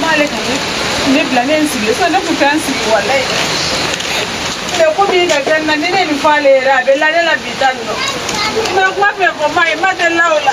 m'ale ka ne ne bila ne ye n sigilen sisan ne tun tɛ n sigi walayi mɛ komi i ka kɛ na ni ne nin fɔ ale yɛrɛ a bɛ la ne la bi ta nin nɔ mɛ kuma fɛn fɔ ma ye ma delila o la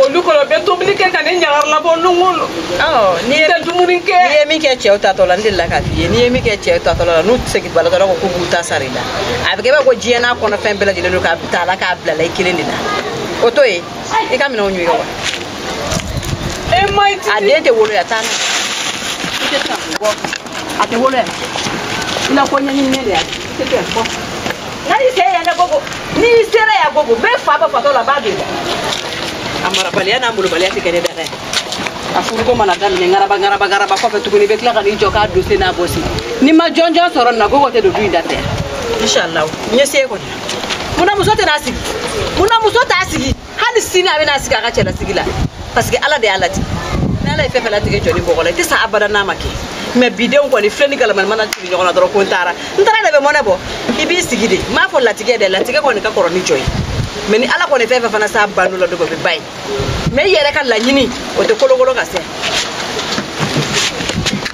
olu kɔnɔ bɛ tobili kɛ ka ne ɲagaralabɔ longo lo n'i tɛ dumuni kɛ n'i ye min kɛ cɛw tatɔ la n delila k'a f'i ye n'i ye min kɛ cɛw tatɔ la n'u seginbagatɔ ko k'u b'u ta sara i la a bɛ kɛ b'a ko diɲɛ n'a kɔnɔ fɛn bɛɛ lajɛlen don k'a ta la k'a bilala i kelen de la o to yen i ka minɛnw ɲɔgɔn wa a den tɛ wolo yan taa n'a ye a tɛ wolo yan i na ko ɲɛɲininen de y'a kɛ nani se yan na gogo n'i sera yan gogo be fa ba fatɔ la ba be a marabaliya n'a malobaliya tɛ kɛ ne dɛrɛ a furuko mana daminɛ ngaraba ngaraba ngaraba kɔfɛ tuguni i bɛ tila ka n'i jɔ k'a dose n'a bɔsi ni n ma jɔnjɔn sɔrɔ nin na gogo tɛ don du in da fɛ inshallah n ye se kɔni munna muso tɛna sigi munna muso t'a sigi hali sini a bɛna sigi a ka cɛlasigi la parce que ala de y'a latigɛ ni ala ye fɛn fɛn latigɛ jɔn ni bɔgɔ la i tɛ sa abada n'a ma kɛ mɛ bi denw kɔni filen ni galama mana tugu ɲɔgɔn na dɔrɔn ko n taara n taara de bɛ mɔnɛ bɔ i b'i sigi de n b'a fɔ latigɛ dɛ latigɛ kɔni ka kɔrɔ ni jɔn ye mɛ ni ala kɔni fɛn fɛn fana s'a bando la dɔ bɛ ba ye mɛ i yɛrɛ ka laɲini o tɛ kolokolo ka se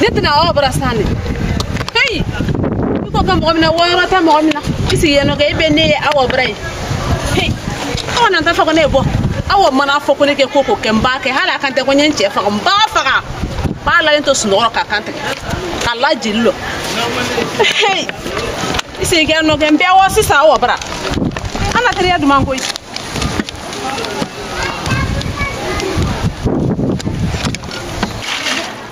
ne tɛ na aw bara sa dɛ kayi i ko ka mɔgɔ min na wɔyɔrɔ tɛ mɔgɔ min na i sigi yen nɔ kɛ i bɛ ne ye aw bara ye heyi aw na t'a fɔ ko ne ye bɔ aw mana fɔ ko ne kɛ ko ko kɛ n b'a kɛ hali a kan tɛ ko n ye n cɛ faga n b'a faga n b'a lalen to sunɔgɔ rɔ k'a kan tigɛ k'a la jeli lɔ heyi i sigi kɛ nɔ kɛ n bɛ wɔ sisan aw bara an na teriya duman koyi.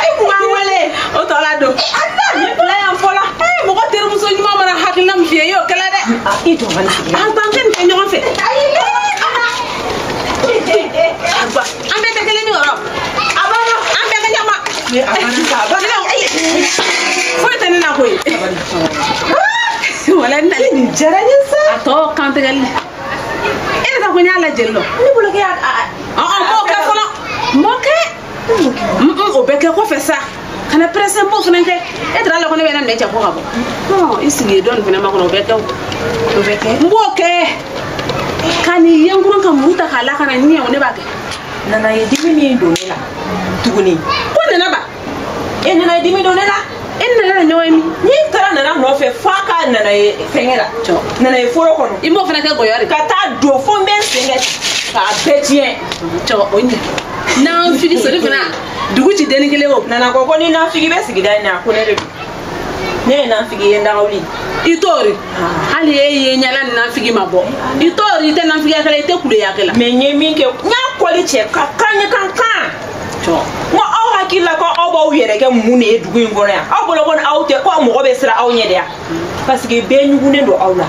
ayi kun b'an wele o tɔ la don layan fɔla mɔgɔ terimuso ɲuman mana hakilina min f'i ye i y'o kɛ le dɛ i jɔ bana an t'an kɛ nin kɛ ɲɔgɔn fɛ an bɛɛ tɛ kelen ni yɔrɔ a banna an bɛɛ ka ɲɛma foyi tɛ ne na koyi wala n nali nin diyara n ye sa a tɔ kantigɛli e de ta ko n y'a la jeli lɔ ne bolo kɛ y'a ɔn n m'o kɛ fɔlɔ n m'o kɛ o bɛ kɛ kɔfɛ sa kana pɛrɛse n b'o fana kɛ e taara la ko ne bɛ na minɛ cɛ ko ka bɔ i sigi yen dɔɔnin fana makɔnɔ o bɛ kɛ o bɛ kɛ n b'o kɛ ka nin ye n kɔnɔ ka muru ta k'a la kan na ɲɛ o ne b'a kɛ nana ye dimi min don ne la tuguni ko nana ba e nana ye dimi don ne la e nana na ɲɔgɔn ye min n'i taara nana nɔfɛ fo a ka nana ye fɛnkɛ la nana ye foro kɔnɔ i b'o fana kɛ gɔyɔ de ka taa don fo n bɛ n sen kɛ k'a bɛɛ tiɲɛ cɔ o ɲɛ nanfigi sori fana dugu ci denni kelen o nana ko ko ni nanfigi bɛ sigida in na ko ne de don ne ye nanfigi ye ndagawuli i t'ori hali e ye ɲala ni nanfigi ma bɔ i t'ori i tɛ nanfigiyakɛla i tɛ kuleyakɛla mɛ n ye min kɛ n y'a kɔli cɛ ka kan ye kan kan hakili la ko aw b'aw yɛrɛ kɛ mun de ye dugu in kɔnɔ yan aw bolo ko aw tɛ ko mɔgɔ bɛ siran aw ɲɛ de yan paseke bɛɛ ɲugunnen don aw la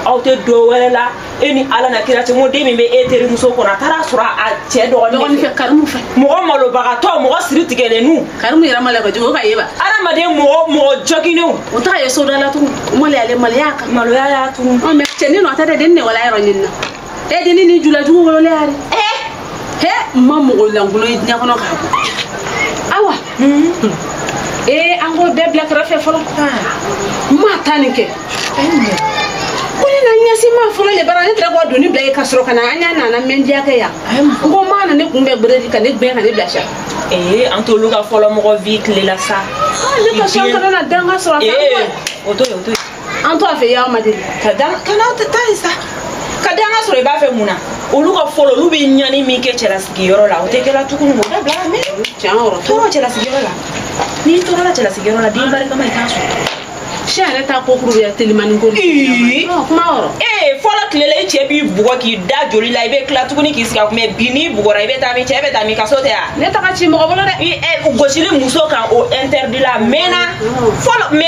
aw tɛ dɔ wɛrɛ la e ni ala n'a kira cɛ ko den min bɛ e terimuso kɔnɔ a taara a sɔrɔ a cɛ dɔgɔnin fɛ karimu fɛ mɔgɔ malobagatɔ mɔgɔ siri tigɛlennu karimu yɛrɛ malo kojugu ka ye ba adamaden mɔgɔ mɔgɔ jɔginnenw o t'a ye sodala tugun maloya ale maloya kan maloya y'a tugun mɛ cɛnin nɔ a tɛ dɛ den ne wolo yɔrɔ ɲini na e dennin julajugu wolola yan de he n ma mɔgɔ lankolon ye diɲɛ kɔnɔ k'a bɔ awa ee an k'o bɛɛ bila kɛrɛfɛ fɔlɔ n ma taa nin kɛ ko ne na ɲɛsi ma fɔlɔ le bara ne tɛra k'o doni bila yen ka sɔrɔ ka na an y'a nana mɛndiya kɛ yan n ko ma na ne kun bɛ beredi ka ne gbɛn ka ne bila sa ee an t'olu ka fɔlɔ mɔgɔ vi tile la sa ne ka sɔn kana na danga sɔrɔ a ee o to yen o to yen an to a fɛ y'a ma deli ka da kana tɛ taa ye sa ka danga sɔrɔ i b'a fɛ mun na olu ka fɔlɔ olu bɛ ɲani min kɛ cɛlasigiyɔrɔ la o tɛ kɛla tuguni o da bila mɛ tɔɔrɔ cɛlasigiyɔrɔ la n'i tɔɔrɔla cɛlasigiyɔrɔ la den barikama i t'a sɔrɔ sɛ yɛrɛ ta kokuru bɛ telimani ko kuma yɔrɔ ee fɔlɔ tile la i cɛ b'i bugɔ k'i da joli la i bɛ tila tuguni k'i sigi a kun mɛ bi n'i bugɔra i bɛ taa min cɛ bɛ taa min kaso tɛ yan ne taga ci mɔgɔ bolo dɛ gosili muso kan o interdit la mɛnna fɔlɔ mɛ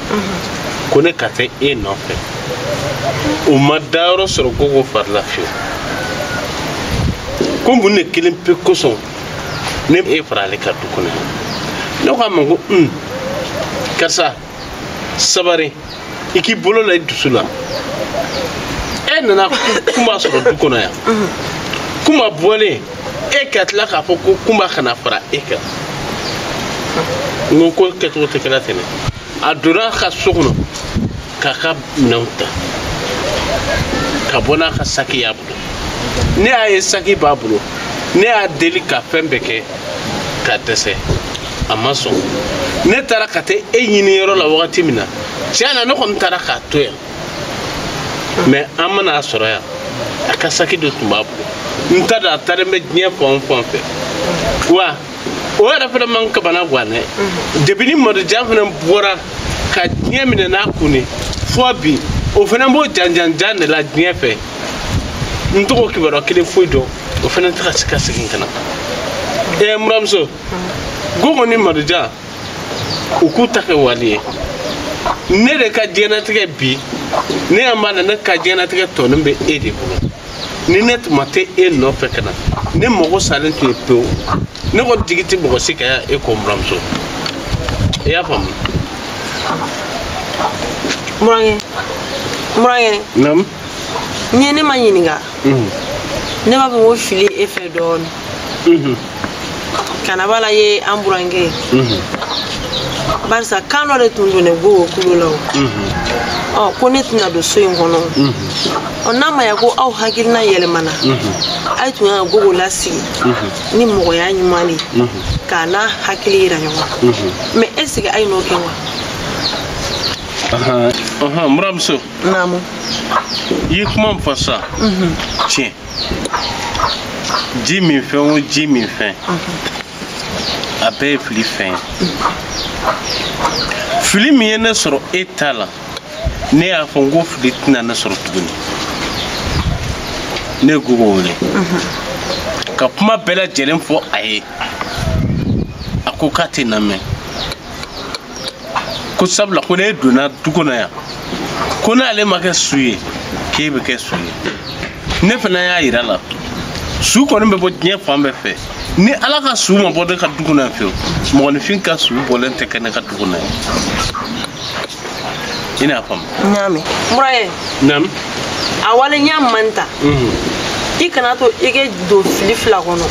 ko ne ka taa e nɔfɛ o ma dayɔrɔ sɔrɔ gogo fari la fiyewu ko mun de kelen pe kosɔn ne y'e fara ale kan du kɔnɔ ne ko a ma ko un karisa sabari i k'i bolo la i dusu la e nana kumba sɔrɔ du kɔnɔ yan kumba bɔlen e ka tila k'a fɔ ko kumba kana fara e kan n ko ko kɛcogo tɛ kɛla ten dɛ a donna ka so kɔnɔ k'a ka minɛnw ta ka bɔ n'a ka saki y'a bolo ne y'a ye saki b'a bolo ne y'a deli ka fɛn bɛɛ kɛ ka dɛsɛ a ma sɔn ne taara ka taa e ɲini yɔrɔ la wagati min na tiɲɛ na ne kɔni taara k'a to yan mɛ an ma na a sɔrɔ yan a ka saki de tun b'a bolo n t'a dɔn a taalen bɛ diɲɛ fan o fan fɛ wa o yɛrɛ fana man kabana gan dɛ depi ni madojan fana bɔra ka diɲɛ minɛ n'a kun ye fɔ bi o fana b'o janjanjan de la diɲɛ fɛ n t'o ka kibaruya kelen foyi dɔn o fana tɛ ka se ka segin ka na ɛɛ n buranmuso gogo ni madojan u k'u ta kɛ wali ye ne de ka diɲɛnatigɛ bi ne y'a ma na ne ka diɲɛnatigɛ tɔnin bɛ e de bolo ni ne tun ma taa e nɔfɛ ka na ne mago salen tun ye pewu ne kɔni jigi tɛ mɔgɔ si kan yan e kɔ n buramuso i y'a faamu. n burankɛ n burankɛ. naamu. n'i ye ne ma ɲininka ne b'a fɔ ko fili e fɛ dɔɔni kana bala ye n burankɛ barisa kan dɔ de tun donnen gogo kulo la o ko ne tɛna don so in kɔnɔ ɔ n'a ma ya ko aw hakilina yɛlɛmana ayi tun kan ka gogo lasigi ni mɔgɔya ɲuman de ye k'a n'a hakili yira ɲɔgɔn na mɛ ɛseke ayi n'o kɛ wa n buramuso naamu i ye kuma min fɔ sisan tiɲɛ dimi fɛn o dimi fɛn a bɛɛ ye fili fɛn ye fili min ye ne sɔrɔ e ta la ne y'a fɔ n ko fili tɛna ne sɔrɔ tuguni ne ye gogo wele ka kuma bɛɛ lajɛlen fɔ a ye a ko k'a tɛna mɛn ko sabula ko ne donna du kɔnɔ yan ko n'ale ma kɛ su ye k'e bɛ kɛ su ye ne fana y'a yira a la su kɔni bɛ bɔ diɲɛ fan bɛɛ fɛ ni ala ka su ma bɔ ne ka du kɔnɔ yan fiyewu mɔgɔninfin ka su bɔlen tɛ kɛ ne ka du kɔnɔ yan i n'a faamu. n y'a mɛn. n burankɛ. naamu. a walenya man ta. i kana to i ka don fili fila kɔnɔ.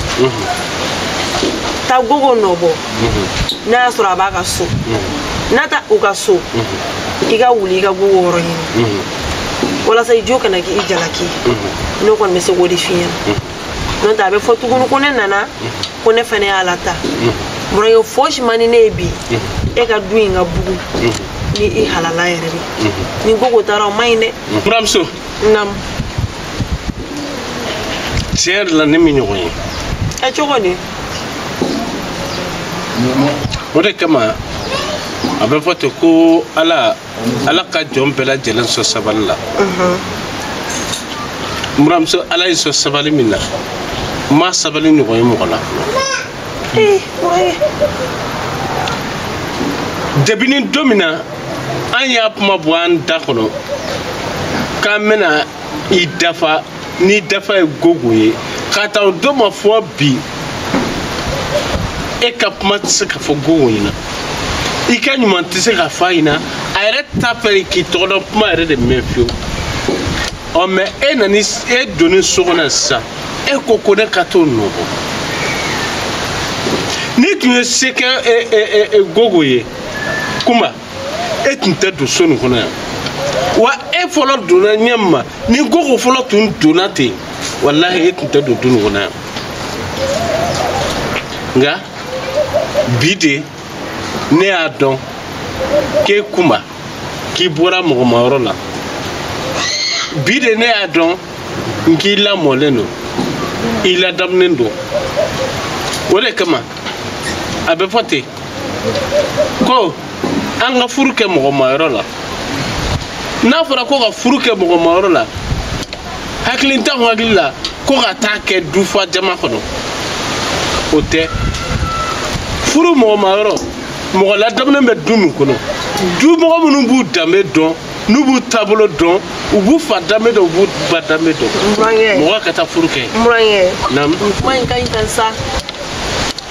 taa gogo nɔ bɔ. mhm. n'a y'a sɔrɔ a b'a ka so mhm. n'a taa u ka so mhm. i ka wuli i ka gogo yɔrɔ ɲini walasa i jo kana kɛ i jalaki ne kɔni bɛ se k'o de f'i ɲɛna n'o tɛ a bɛ fɔ tuguni ko ne nana ko ne fana y'a lataa burankɛ fosi man di ne ye bi e ka du in ka bugun ni i halala yɛrɛ de ni gogo taara o man ɲi dɛ buramuso naamu tiɲɛ yɛrɛ la ne m'i ɲɔgɔn ye ɛ cogo di o de kama a bɛ fɔ ten ko ala ala ka jɔn bɛɛ lajɛlen sɔn sabali la n buramuso ala y'i sɔn sabali min na n ma sabali ɲɔgɔn ye mɔgɔ la fɔlɔ depi ni don min na an y'a kuma bɔ an da kɔnɔ k'an bɛna i dafa n'i dafa ye gogo ye k'a ta o don ma fo bi e ka kuma tɛ se ka fɔ gogo ɲɛna i ka ɲuman tɛ se ka fɔ a ɲɛna a yɛrɛ t'a fɛ k'i tɔgɔ dɔn kuma yɛrɛ de mɛn fewu ɔ mɛ e nani e donni so kɔnɔ sisan e ko ko ne ka t'o nɔgɔ n'i tun ye se kɛ e, e, e, gogo ye kuma e tun tɛ don so nin kɔnɔ yan wa e fɔlɔ donna ɲɛ ma ni gogo fɔlɔ tun donna ten walahi e tun tɛ don du nin kɔnɔ yan nka bi de ne y'a dɔn k'e kuma k'i bɔra mɔgɔmayɔrɔ la bi de ne y'a dɔn n k'i lamɔlen don i ladamunen don o de kama a bɛ fɔ ten ko an ka furu kɛ mɔgɔmayɔrɔ la n'a fɔra ko ka furu kɛ mɔgɔmayɔrɔ la hakilintan hakili la ko ka taa kɛ dufa jama kɔnɔ o tɛ furu mɔgɔmayɔrɔ mɔgɔ ladamunen bɛ du min kɔnɔ du mɔgɔ minnu b'u danbe dɔn n'u b'u taabolo dɔn u b'u fa danbe dɔn u b'u ba danbe dɔn mɔgɔ ka taa furu kɛ. kuma in ka ɲi tan sa.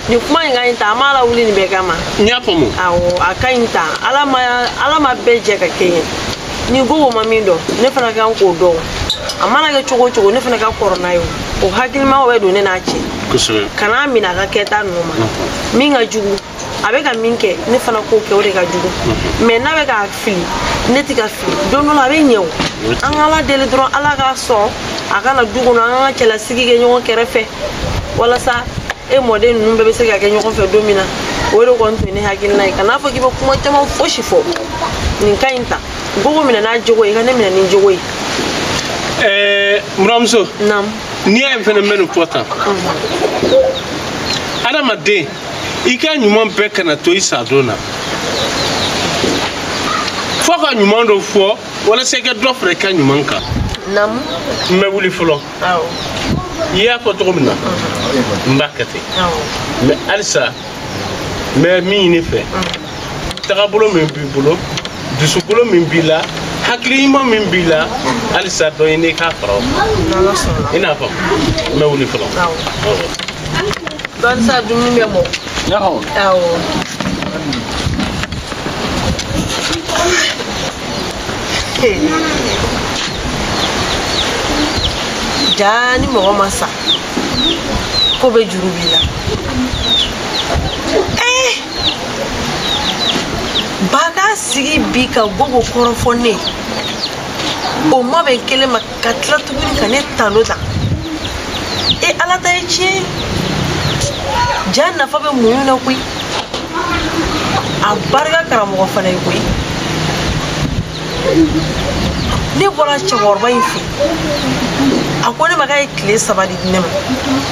nin kuma in ka ɲi tan an m'a lawuli nin bɛɛ kama n y'a faamu awɔ a ka ɲi tan ala ma ala ma bɛɛ jɛ ka kɛɲɛ ni gogo ma min dɔn ne fana kan k'o dɔn a mana kɛ cogo o cogo ne fana ka kɔrɔ n'a ye o hakilimaw bɛ don ne n'a cɛ kan'a minɛ a ka kɛta ninnu ma min ka jugu a bɛ ka min kɛ ne fana k'o kɛ o de ka jugu mhm. mɛ n'a bɛ ka fili ne tɛ ka fili don dɔ la a bɛ ɲɛ o an ka ala deli dɔrɔn ala k'a sɔn a ka na du kɔnɔ an ka cɛlasigi kɛ ɲɔgɔn kɛrɛfɛ walasa e mɔden ninnu bɛɛ bɛ se ka kɛ ɲɔgɔn fɛ don min na o de kɔni tun ye ne hakilina ye kan'a fɔ k'i bɛ kuma caman fosi fɔ nin ka ɲi tan gogo minɛ n'a jogo ye i ka ne minɛ ni n jogo ye ɛɛ buranmuso n'i y'a ye fɛnɛ n bɛ nin fɔ tan adamaden i ka ɲuman bɛɛ kana to i sadon na fo ka ɲuman dɔ fɔ walasa i ka dɔ fara i ka ɲuman kan naamu n bɛ wuli fɔlɔ awɔ i y'a fɔ cogo min na n b'a kɛ ten mɛ halisa n bɛ min ɲini i fɛ tagabolo min b'i bolo dusukolo min b'i la hakili ɲuman min b'i la halisa dɔ ɲini k'a fara o kan i n'a fɔ n bɛ wuli fɔlɔ dɔɔni sa dumuni bɛ mɔ awɔ jaa ni mɔgɔ ma sa ko bɛ juru b'i la ba k'a sigi bi ka gogo kɔrɔfɔ ne o ma bɛ kelen ma ka tila tuguni ka ne talo ta e ala ta ye tiɲɛ jaa nafa bɛ muɲu na koyi a barika karamɔgɔ fana ye koyi ne bɔra cɛkɔrɔba in fɛ a ko ne ma k'a ye tile saba de di ne ma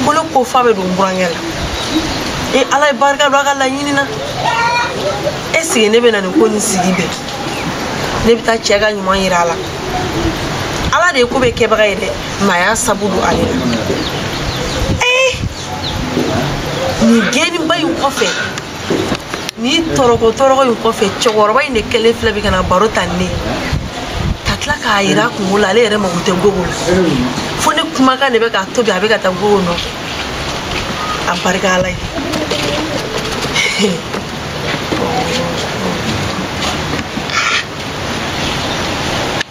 ko ne ko fa bɛ don n burankɛ la e ala ye barika don a ka laɲini na e sigi ne bɛ na nin ko nin sigi bɛɛ ne bɛ taa cɛ ka ɲuman yira a la ala de ye ko bɛɛ kɛbaga ye dɛ nka a y'a sabu don ale la ee nin gɛnniba in kɔfɛ nin tɔrɔko tɔrɔko in kɔfɛ cɛkɔrɔba in de kɛlen filɛ bi ka na baro ta ne ka tila k'a yira kungo la ale yɛrɛ mago tɛ gogo la fo ne kumakan de bɛ k'a to bi a bɛ ka taa gogo nɔfɛ a barika ala ye